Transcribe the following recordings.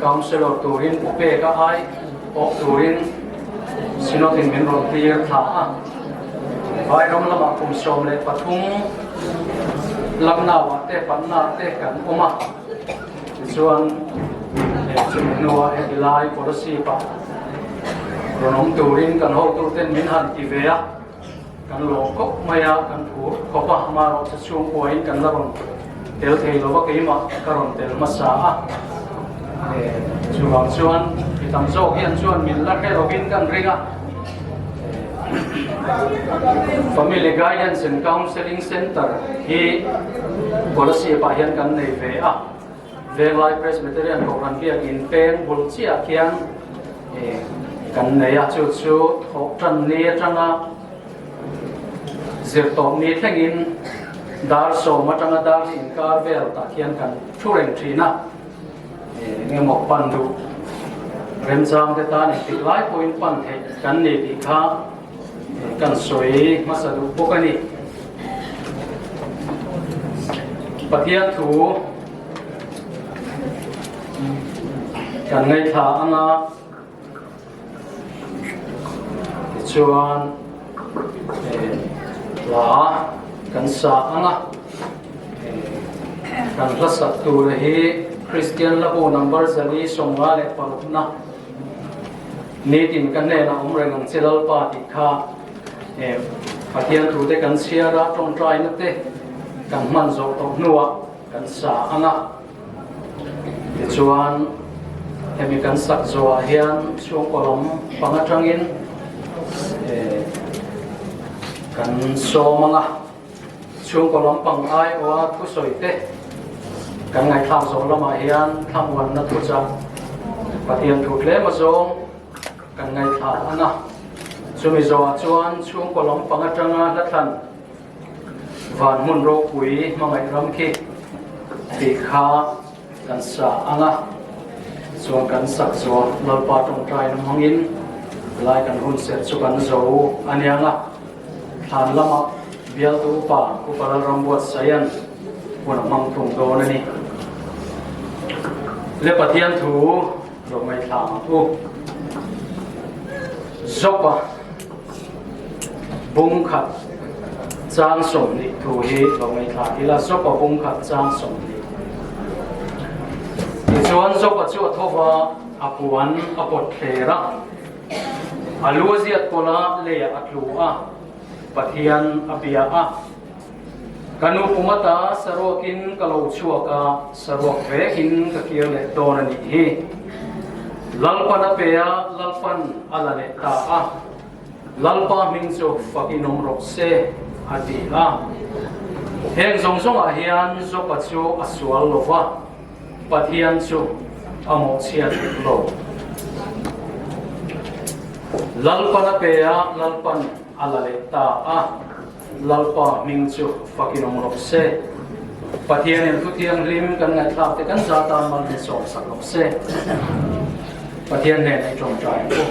Councilor turin u pek a ai awh turin Synod in min rawn tir thla a, Vai ram lamah kum sawm leh pathum lamnauah tehpanna te kan awm a, tichuan chumi hnua heti lai policy pah rawn awm turin kan hotuten min han ti ve a, Kan lawm kawp mai a kan thu khawpa hma rawh sa chhung pawh in kan la rawn tel thei lo va keimah ka rawn tel hmasa a e chuvang chuan mi tam zawk hian chuan min la hre lo vin kan ring a family guidance and counselling center hi policy pah hian kan nei ve a Venglai Presbyterian Kohhran biakin peng bul chiah khian kan nei a, chu chu thawh tan ni atanga zir tawp ni thlengin dar sawm atanga dar hi inkar vel tah khian kan thu reng thin a, eng emaw pan duh remchang te tan engtiklai pawhin pan theih kan ni tih kha. Kan sawi hmasa duh bawk a ni. Pathian thu kan ngaithla ang a, tichuan hla kan sa ang a. Kan hla sak tur hi Kristian la bu number zali sawmnga leh parukna. Nitin ka hnenah awm reng ang che Lalpa tih kha eh, Pathian tute kan chhiar a, tawngtaina te kan hman zawh tawh hnuah kan sa ang a. Tichuan hemi kan sak zawhah hian chhungkaw lam panga tangin eh, kan sawm ang a. Chhungkaw lampang aia thusawite kan ngaihthlak zawh lamah hian thlamuanna thuchah Pathian thu tlema zawng kan ngaihthlak a na. Chumi zawhah chuan chhungkaw lampang atanga hlatlan van hmun ropui hmangaih ram khi tih kha Kan sa ang a, chuan kan sak zua Lalpa tawngtai na hmangin lai kan hun serh chu kan zo a niang a. Thlan lama bialte upa Upa Lalrambuat Sayan huna hmang thung dawn a ni. Le Pathian thu. Zawk mai thla ang u. Zopa bung khat chang som ni thu hi zawk mai thla ila zopa bung khat chang som ni. Ti chuan zopa chu a thova a puan a pot thler a. A lu ziat kola leia a tlu a. Pathian a bia a. Ka nu Pumata saruakin ka lo chhuak a, saruak vekin ka kir leh dawn a nih hi. Lalpa na pe a, Lalpan a la leh ta a. Lalpa hming chu fak in awm rawh se, a ti a. Heng zawng zawngah hian Jopa chu a sual lo va, Pathian chu a mawhchhiat dik lo. Lalpa na pe a, Lalpan a la leh ta a. Lalpa hming chu fakin awm rawh se. Pathian in Thu Thianghlim kan ngaihthlak te kan za tan mal hne sawm sak rawh se. Pathian nen ei tawng ta em u.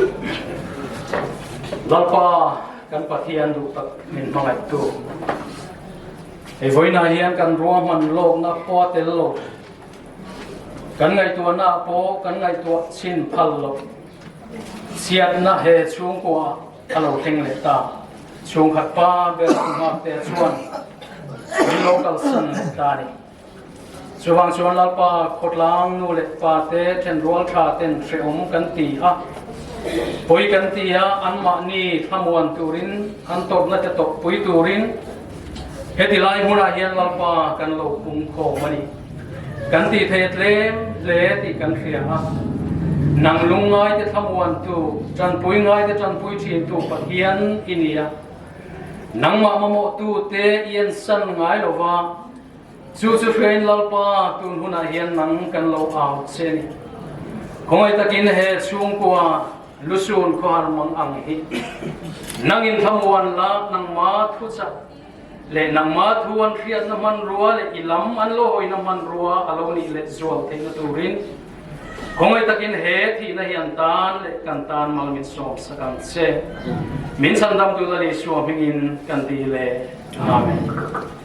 Lalpa kan Pathian duh tak min hmangaih tu. Ei vawiinah hian kan ruang hman lawkna khua tel lo. Kan ngaihtuahna pawh kan ngaihtuah chin phal lo. Chhiatna he chhungkua A lo thleng leh ta. Chhungkhat pa ber lam nghak te ah chuan min lo kal san leh ta a ni. Chuvang chuan Lalpa khawtlang nu leh pa te then rual tha ten hrehawm kan ti a. Pui kan ti a, anmahni thlamuan turin an tawrhna te tawp pui turin, Heti lai hmunah hian Lalpa kan lo pumkhawm a ni. Kan tih theih tlem hle tih kan hria a. Nang lungngaite thlamuantu, tanpui ngaite tanpui thintu Pathian i ni a. Nangmah mamawhtute i ensan ngai lo va. Chu chu hrein Lalpa tun hunah hian nang kan lo au che ni. Khawngawi takin he chhungkua lusun khuahar mang ang hi nang in thlamuan la, nangma thuchak leh nangma thu an hriatna hmanrua leh i lam an lo hawina hmanrua a lo nih let zual theihna turin khawngawi takin he thihna hi an tan leh kan tan mal min sawm sak ang che. Min chhandam duhna lih suahmingin kan ti le. Amen.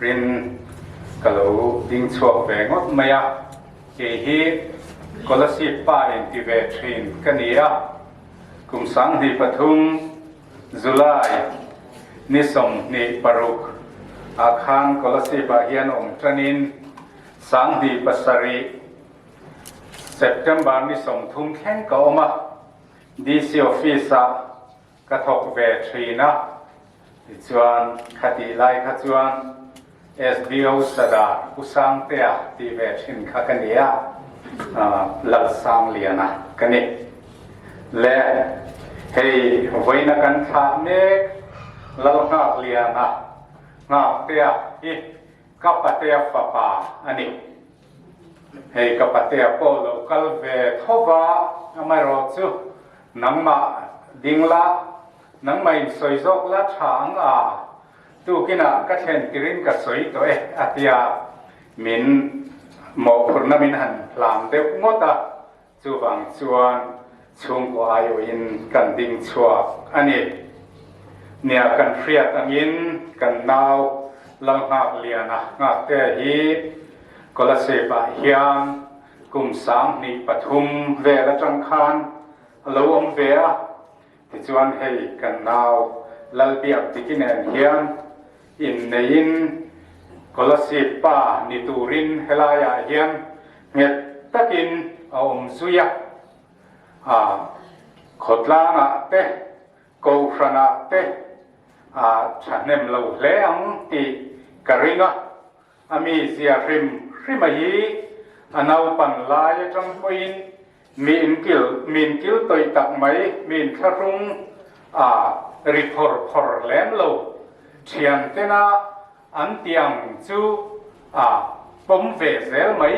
Rin ka lo ding chhuak ve ngawt mai a, kei hi scholarship pa in ti ve thin ka ni a, kum sang hnih pathum, July, ni sawm hnih paruk ah khan scholarship ah hian awm tan in sang hnih pasarih, September, ni sawm thum thleng ka awm a, DC office ah. Ka thawk ve thin a, tichuan khatih lai kha chuan sdo Sadar Pu Sangtea tih ve thin kha ka ni a, Lalsangliana ka ni. Le hei vawiina kan thlah mek Lalngakliana, Ngaktea, hi ka patea fapa a ni. Hei ka patea pawh lo kal ve tho va, amaherawh chu nangmah ding la, nangmah in sawi zawk la tha ang a, tukinah ka thlen tirin ka sawi tawh e, a tia min mawhphurhna min han hlam deuh ngawt a. Chuvang chuan chhungkaw aiawhin kan ding chhuak a ni. Nia kan hriat angin kan nau Lalnghak Liana nghaktea hi Kawlasevah hian kum sang hnih pathum vel atang khan a lo awm ve a, Tichuan hei kan nau lal biak dik i nen hian inneiin scholarship pa ni turin helaiah hian nghet takin a awm zui a, aa khawtlangah te kohhranah te aa thahnem lo hle ang tih ka ring a. A mizia hrim hrim a hi a naupan lai atang pawhin mi in kil mi in kil tawi tak mai, mi in thlahrung a ri phawr phawr lem lo. Thian tena an tiang chu a pawm ve zel mai.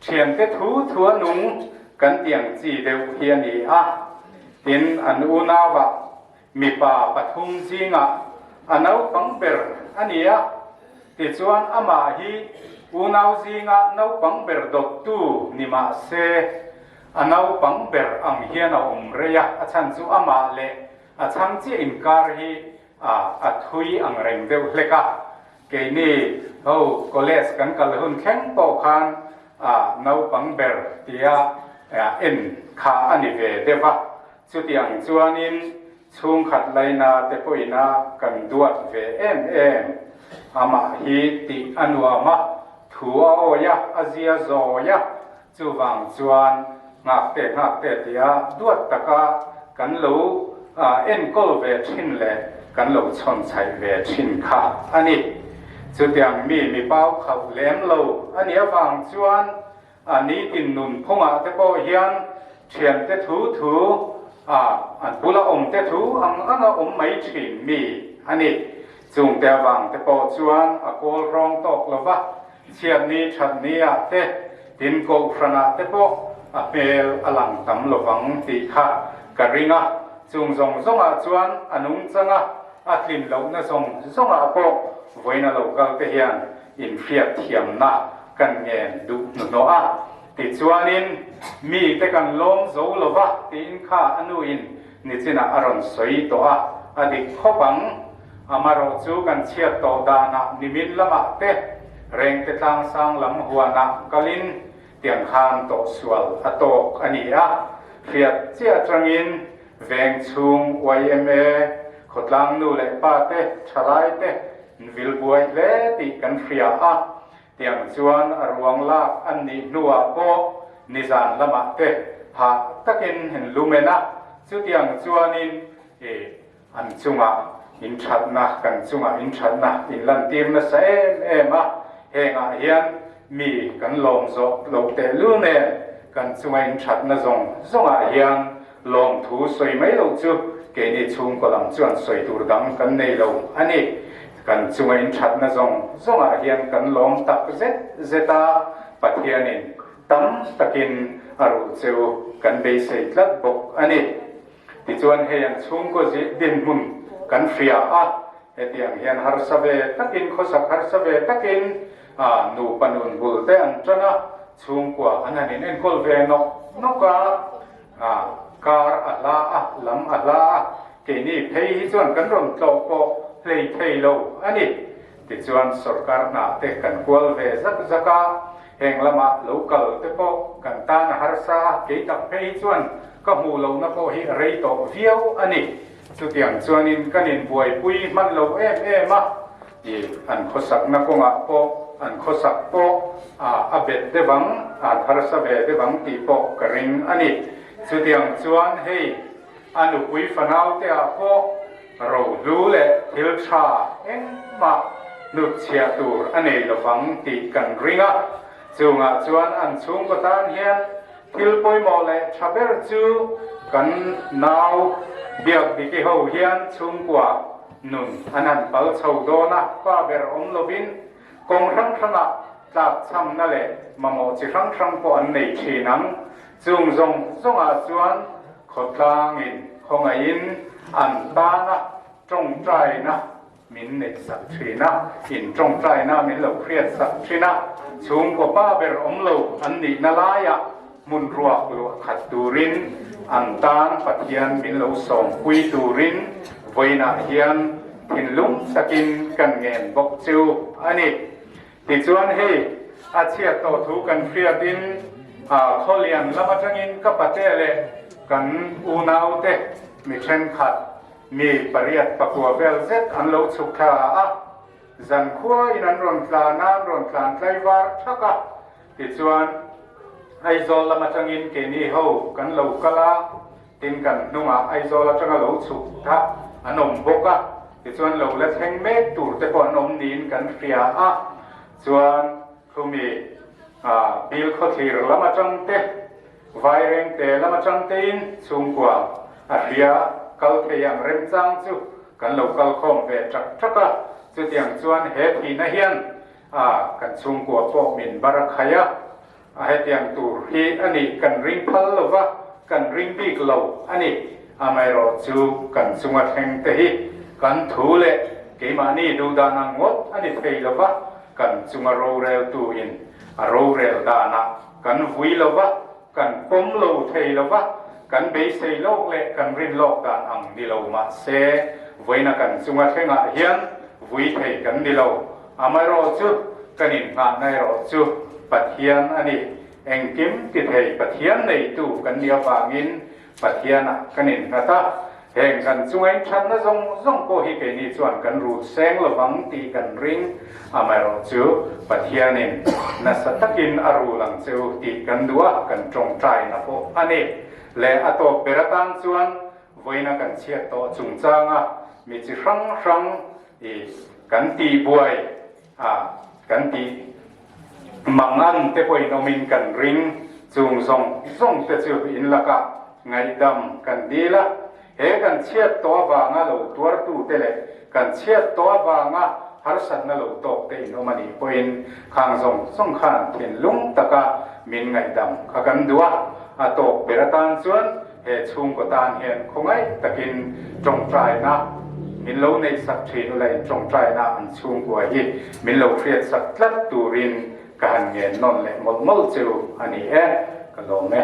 Thian te thu thu a nung kan tiang chi deuh hi a ni a, tin an unau ah Mipa pathum zingah a naupang ber a ni a, tichuan amah hi unau zinga naupang ber dawttu ni mah se, a naupang ber ang hian a awm rei a, a chhan chu amah leh a chhang chiah inkar hi a thui ang reng deuh hlek a. Keini ho college kan kal hun thleng pawh khan naupang ber tia en kha a ni ve deuh a. Chutiang chuanin chhungkhat laina te pawhina kan duat ve em em. Amah hi tih a nuam a, thu a awih a, a zia zawih a, chuvang chuan nghakte nghakte tia duat taka kan lo enkawl ve thin leh kan lo chhawnchhaih ve thin kha a ni. Chutiang mi mipa khauh lem lo a nih avang chuan, A nitin nun khawngah te pawh hian thiante thu thu a an bula awmte thu ang anga awm mai thin mi a ni. Chungte avang te pawh chuan a kawl hrawng tawk lo va, chhiatni thatni ah te tin kohhranah te pawh a hmel a lang tam lo vang tih kha ka ring a, chung zawng zawngah chuan a nungchanga a tlinlohna zawng zawngah pawh vawiina lo kalte hian Infiak thiamna kan ngen duh hnuhnawh a, tichuanin mite kan lawm zo lo va tiin kha a nuin nichinah a rawn sawi tawh a, a dik khawp ang. Amarawh chu kan chhiat tawh danah nimin lamah te, Rengtetlang sanglam huanah kalin tiangham tawh sual a tawk a ni a, hriat chiah changin Veng chhung yma khawtlang nu leh pa te, thalai te in vil buai hle tih kan hria a, tiang chuan a ruang lak an nih hnuah pawh nizan lamah te hah takin in lu men a, chutiang chuanin i an chungah in thatna, kan chungah in thatna in lantir nasa em em a, hengah hian mi kan lawm zawh lo tehlul nen kan chunga in thatna zawng zawngah hian Lawm thu sawi mai loh chu keini chhungkawl ang chuan sawi tur dang kan nei lo a ni. Kan chunga inthatna zawng zawngah hian kan lawm tak zet zet a, Pathianin tam takin a ruh che u, kan beisei tlat bawk a ni. Tichuan hei an chhungkaw zir dinhmun kan hriah a, hetiang hian harsa ve takin, khawsak harsa ve takin nupa nunbulte an tan a, chhungkua an han in enkawl ve nawk nawk a. A kar a hla a, lam a hla a, keini phei hi chuan kan rawn tlawh pawh hleithei lo a ni. Tichuan sorkar hnahte kan kual ve zak zak a, heng lama local te pawh kan tan a harsa a, kei tak phei hi chuan ka hmuh lohna pawh hi a rei tawh viau a ni. Chutiang chuanin kan inbuaipui hman lo em em a. I an khawsakna kawngah pawh an khawsak pawh a bet deuh ang, an harsa ve deuh ang tih pawh ka ring a ni. Chutiang chuan hei a nupui fanauteah pawh rohlu leh thil tha engmah hnutchhiah tur a nei lo vang tih kan ring a. Chungah chuan an chhungkaw tan hian thil pawimawh leh tha ber chu kan nau Biakdiki ho hian chhungkua, Nun a nan pal chho dawn a, pa ber awm lovin kawng hrang hranga tlak chhamna leh mamawh chi hrang hrang pawh an nei thin ang. Chung zawng zawngah chuan khawtlangin, khawngaihin an tan a, tawngtaina min nei sak thin a, in tawngtaina min lo hriat sak thin a, chhungkaw pa ber awm lo an nihna laiah Hmun ruak luahkhat turin an tan Pathian min lo sawmpui turin vawiinah hian thinlung takin kan ngen bawk chu a ni. Tichuan hei a chhiat tawh thu kan hriatin khawlian lam atangin ka pate leh kan unaute mi thenkhat mi pariat pakua vel zet an lo chhuk thla a, zankhuain an rawn tla nan rawn tlan tlaivar thak a, Tichuan, Aizawl lam atangin keini ho kan lo kal a, tin kan hnungah Aizawl atanga lo chhuk thah an awm bawk a, tichuan lo la thleng mek tur te pawh an awm niin kan hria a. Chuan Hlumi Bil khawthlir lam atangte, Vairengte lam atangtein chhungkua a hria kal thei ang remchang chu kan lo kal khawm ve ṭak ṭak a, chutiang chuan he thihna hian A, kan chhungkua pawh min var a khai a, a hetiang tur hi a ni, kan ring phal lo va, kan ring bik lo a ni. Amaherawh chu kan chunga thlengte hi kan thu leh keimahni duhdan ang ngawt a ni thei lo va, kan chunga roreltuin a rorel danah kan vui lo va, Kan pawm lo thei lo va, kan beisei lawk leh kan rin lawk dan ang ni lo mah se, vawiina kan chunga thlengah hian vui thei kan ni lo. Amaherawh chu kan innghahna erawh chu Pathian a ni. Engkim tithei Pathian neitu kan nih avangin, Pathianah kan innghat a, heng kan chungain thatna zawng zawng pawh hi keini chuan kan rut seng lo vang tih kan ring. Amaherawh chu Pathianin nasa takin a rul ang che u tih kan duh a, kan tawngtaina pawh a ni. Leh a tawp ber atan chuan vawiina kan chhiat tawh chungchanga mi chi hrang hrang i kan tihbuai. A kan tih mang an te pawhin awmin kan ring chung zawng zawng te chu in laka ngaihdam kan dil a, he kan chhiat tawh avanga lo tuartu te leh kan chhiat tawh avanga harsatna lo tawk te in awm anih pawhin khang zawng zawng khan thinlung taka min ngaihdam kha kan duh a, a tawk ber atan chuan He chhungkaw tan hian khawngaih takin tawngtaina min lo nei sak thin ula in tawngtaina an chhungkua hi min lo hriat sak tlat turin ka han ngen nawn leh mawlh mawlh chu a ni e, ka lawm e.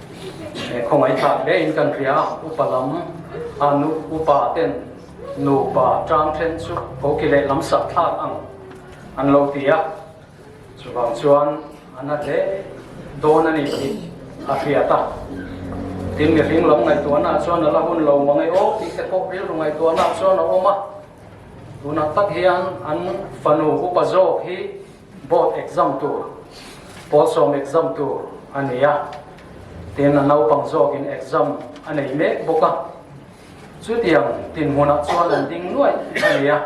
He khawngaih thlak hle in kan hria upa lam a nu upa ten nupa tang then chu khawki leh lam sak thlak ang an lo ti a chuvang chuan an a hle dawn a ni tih a hriat a tin mi hring lam ngai tuana chuan ala hun lo mang e o tih te pawh rilru ngai tuana chuan a awm a tunah tak hian an fanu upa zawk hi Board exam tur, Pawlsawm exam tur a nei a, tin a naupang zawkin exam a nei mek bawk a, chutiang tinhmunah chuan an ding nuaih a ni a,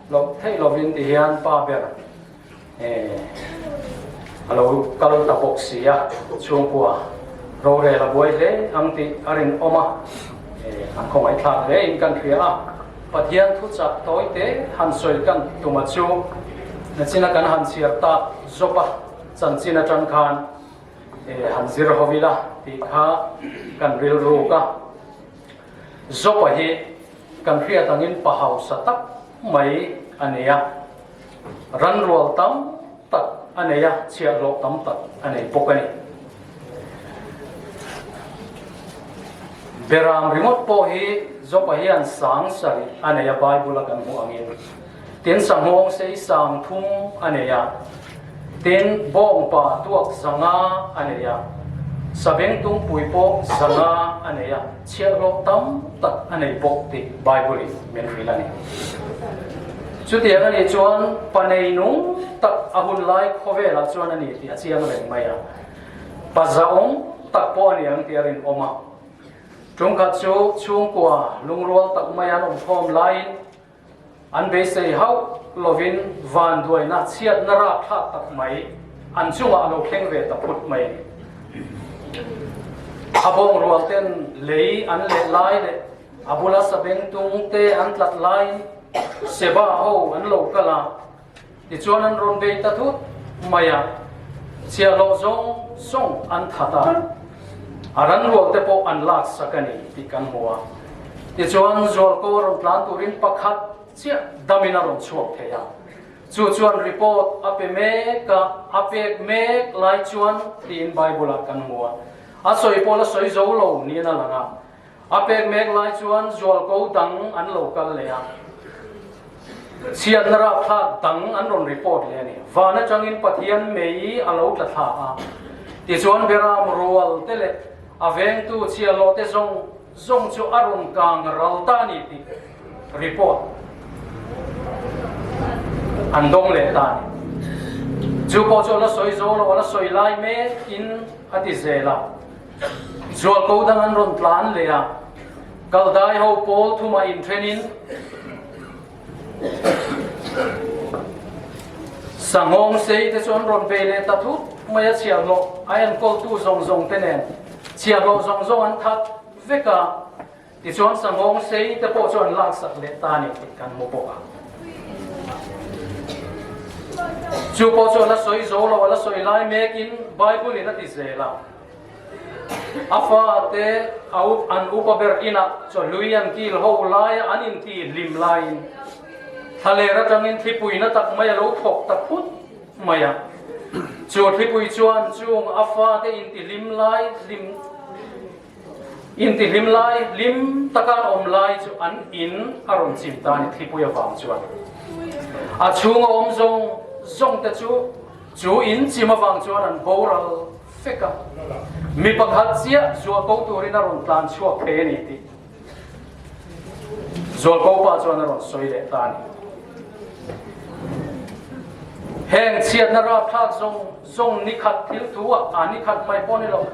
hlawh theih lovin tihian pa ber eh a lo kal ta bawk si a, chhungkua rorel a buai hle ang tih a rinawm a, eh an khawngaih thlak hle in kan hria a. Pathian thu chak tawi te han sawi kan ti tuma chu nachina kan han chhiar ta zawp a, chanchin atang khan han zir haw ila tih kha kan rilruk a. Zopa hi kan hriat angin pahausa tak mai a nia. Ranrual tam tak a nei a, chhiah hlawh tam tak a nei bawk a ni. Beram ringawt pawh hi Joba hian sang sarih a nei a, Bible-a kan hmuh angin. Tin sanghawng sei sang thum a nei a, tin bawngpa tuak zanga a nei a, savengtum pui pawh zanga a nei a. Chhiah hlawh tam tak a nei bawk tih Bible in min hrilh a ni. Chutiang a nih chuan pa nei nung tak a hun lai khawvelah chuan a ni tih a chiang reng mai a, pa zahawm tak pawh a ni ang tih a rinawm a. Ṭum khat chu chhungkua lungrual tak maiah an awmkhawm laiin, An beisei hauh lovin van duaina chhiatna rap thlak tak mai an chungah a lo thleng ve ta phut mai. A bawngrualten lei an leh lai leh a bula sabeng tungte an tlat laiin Seba ho an lo kal a, Tichuan an rawn bei ta thut mai a, chhiahhlawh zawng zawng an that a, a ranrual te pawh an lak sak a ni tih kan hmu a. Tichuan Zualkaw rawn tlan turin pakhat chiah damin a rawn chhuak thei a, chu chuan report a pe mek a, a pek mek lai chuan tiin Bible-ah kan hmu a, a sawi pawh la sawi zo lo niin a lang a, A pek mek lai chuan zual ko dang an lo kal leh a, chhiatna rapthlak dang an rawn report leh a ni. Van atangin Pathian mei a lo tla thla a, tichuan Beram rual te leh a vengtu chialawh te zawng zawng chu a rawn kang ral ta ni tih report an dawng leh ta ni. Chu pawh chu a la sawi zo lo, a la sawi lai mek in a ti zel a. Zualpo dang an rawn tlan leh a, Kaldai ho pawl thuma in thenin sanghawng sei te chu an rawn ve leh ta thut mai a, chhiarhlawh aian kawltu zawng zawng te nen chhiarhlawh zawng zawng an that vek a. Tichuan sangawng sei te pawh chuan laksak leh ta nen tih kan hmu bawk a. Chu pawh chuan a sawi zo lo, a la sawi lai mek in Bible in a ti zel a, A fa te a up an upa ber inah chawhlui an kil ho lai a, an in ti hlim lai in thaler atang in thlipui na tak mai a lo thawk ta phut mai a. Chu thlipui chuan chung a fa te in ti hlim lai hlim. Intihlim lai hlim taka an awm lai chu an in a rawn chim ta a ni, Thlipui avang chuan. A chhung a awm zawng zawng te chu chu in chim avang chuan an boral fek a. Mi pakhat chiah zual ko turin a rawn tlan chhuak phei a ni tih zual ko pa chuan a rawn sawi leh ta a ni. Heng chhiatna rapthlak zawng Zawng nikhat thil thu ah aa nikhat hmai pawh ni lo.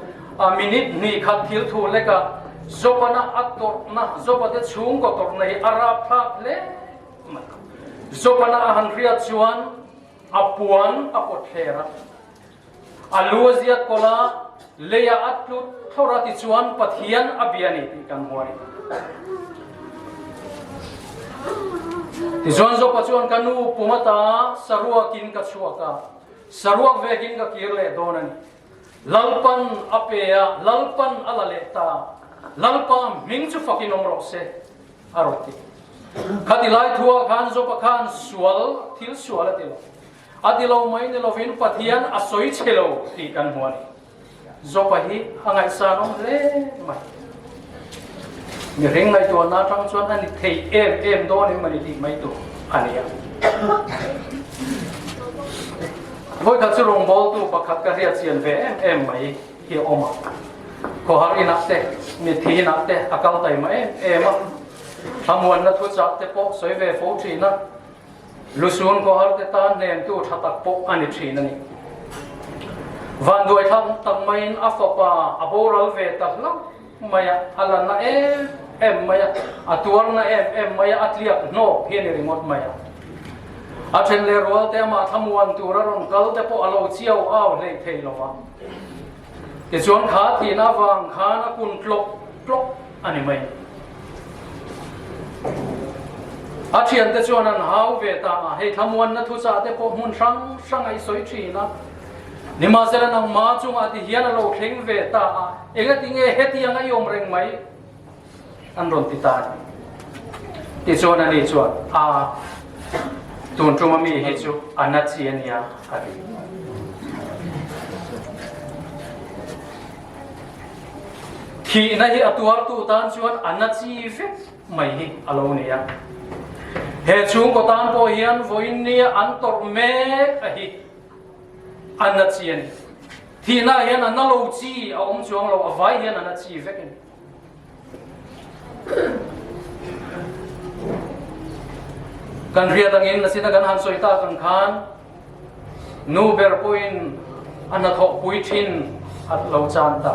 Minute hnih khat thil thu lek ah Jobana a tawrhna, Joba te chhungkaw tawrhna hi a rap thlak hle mai lo. Jobana a han riat chuan a puan a pawt hler a, a lu a ziat kawlh a, lei ah a tlut thlawrh a tichuan Pathian a bia ni tih kan hmu a ni. Tichuan Joba chuan, Ka nu pum ata saruak in ka chhuak a. Saruak vekin ka kir leh dawn a ni. Lalpan a pe a, Lalpan a la leh ta. Lalpa hming chu fakin awm rawh se, a rawn ti. Khati lai thuah khan Job-a khan sual, thil sual a ti lo. A ti lo mai ni lovin Pathian a sawi che lo tih kan hmu a ni. Jopa hi a ngaihsa rawng hle mai. Mihring ngaihtuahna atang chuan a ni thei em em dawn em a ni tih mai tur a ni a. Vawi kha chu rawngbawltu pakhat ka hriatchian ve em em mai hi a awm a. Khawhar inah te, mithi inah te a kal taima em em a. Thlamuanna thuchak te pawh sawi ve fo thin a. Lu sun khuaharte tan hnemtu tha tak pawh a ni thin a ni. Vanduaithlam tam maiin a fapa a boral ve ta hla mai a, a la na em em mai a, a tuar na em em mai a, a tliak hnawk hi a ni ringawt mai a. A then leh rualte amah thlamuan tura rawn kalte pawh a lo chiau au hleih thei lo a. Tichuan tha thihna avang khan a kun tlawk tlawk a ni mai. A thiante chuan an hau ve ta a, hei thlamuanna thuchahte pawh hmun hrang hrangah i sawi thin a. Nimahsela nangma chungah ti hian a lo thleng ve ta a, engatinge hetianga i awm reng mai? An rawn ti ta ni? Tichuan a ni chuan, Aa, tun tuma mi hi chu a na chi a nia, a ti. Thihna hi a tuartu tan chuan a na chi vek mai hi a lo ni a. He chhungkaw tan pawh hian vawiin nia an tawrh mek a hi a na chi a ni. Thihna hian a na lo chi a awm chuang lo, a vai hian a na chi vek a ni. kan riat angin na sina kan han soi ta kan khan nu ber poin an na thok pui thin at lo chan ta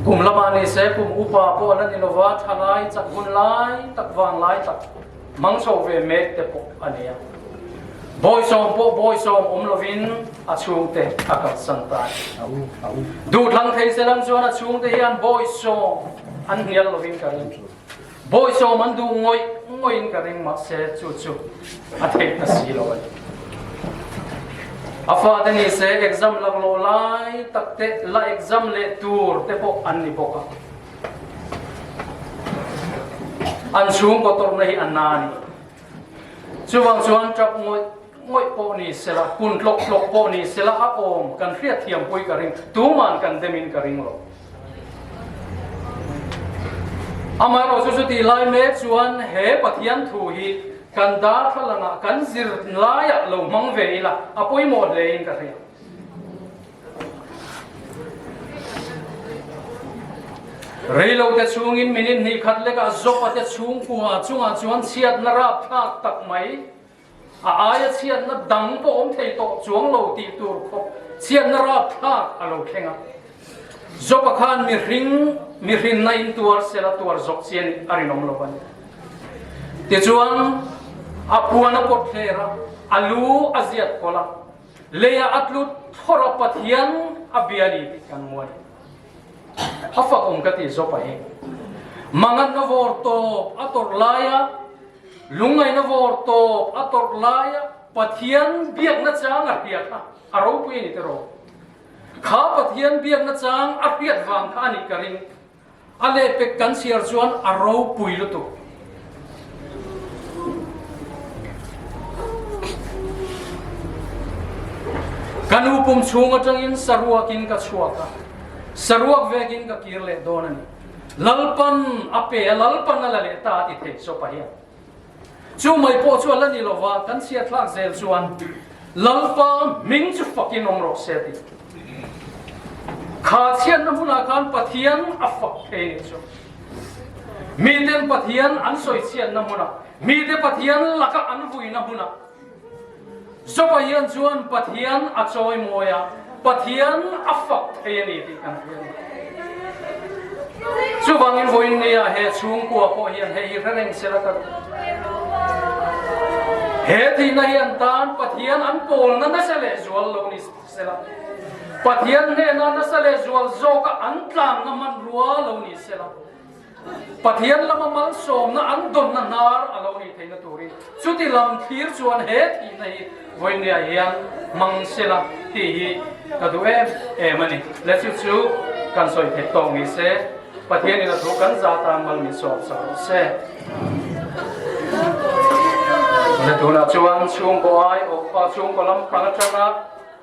kum lama ni se kum upa po nan ni lova thalai chak hun lai tak vang lai tak Hmang chho ve mek te pawh a ni a, bawi sawm pawh bawi sawm awm lovin a chhungte a kalsan ta e. Duhthlang thei se lam chuan a chhungte hian bawi sawm an hnial lovin ka ring. Bawi sawm an duh ngawih ngawhin ka ring mahse chu chu a theih ta si lo a ni. A fate ni se exam laklawh lai takte la exam leh tur te pawh an ni bawk a. an chhung kawtawrna hi a na a ni chuvang chuan tap ngawih ngawih pawh ni se la hun tlawk tlawk pawh ni se la a awm kan hriat thiam pui ka ring tuman kan demin ka ring lo amaherawh chu chu ti lai mek chuan he pathian thu hi kan dar thlalangah kan zir laiah lo hmang ve ila a pawimawh hlein ka hria Reilote chhungin minute hnih khat lekah Jopate chhungkua chungah chuan chhiatna rapthlak tak mai, a aia chhiatna dang pawh awm thei tawh chuang lo tih tur khawp chhiatna rapthlak a lo thleng a. Jopa khan mihring mihrinna intuar sela tuar zawk chian in a rinawm lo a ni. Tichuan, a puana pawt thler a, a lu a ziat kawlh a, Lei ah a tlut thaw rawh Pathian a bia a ni tih kan muan. A fak awm ka ti zawp a hi. Mangat na vawr tawp a tawrh lai a, lungngai na vawr tawp a tawrh lai a, Pathian biak na chang a hriat a, a ropui a ni teh rawh. Kha Pathian biak na chang a hriat vang kha a nih ka ring. A lehpek kan siar chuan a ro pui lutuk. Ka nu pum chhung atangin saruakin ka chhuak a, saruak vekin ka kir leh dawn a ni. Lalpan a pe a, Lalpan a la leh ta a ti thei Sopa hian. Chu mai pawh chu a la ni lo va, kan chhiatthlak zel chuan Lalpa hming chu fakin awm rawh se a ti. Kha chhiatna hmunah khan Pathian a fak thei ni chu. Miten Pathian an sawi chhiatna hmunah, mite Pathian laka an vuina hmunah, Joba hian chuan Pathian a chawi mawi a, Pathian a fak thei a ni tih kan hria a ni. Chuvangin vawiin nge a he chhungkua pawh hian hei hi hre reng se la ka duh? He tihna hian tan Pathian an pawlna nasa leh zual lo ni se la, Pathian hnena nasa leh zual zawka an tlangna hmanrua lo ni se la. Pathian lama malsawmna an dawnna hnar a lo ni theihna turin chuti lam thlir chuan he thihna hi vawineah hian hmang se la tih hi ka duh em em a ni. Le chu chu kan sawi theih tawh ni se, Pathian in a thu kan za tan mal ni zawk zawk ang se. Tunah chuan chhungkaw ai awh, chhungkaw lampang atanga.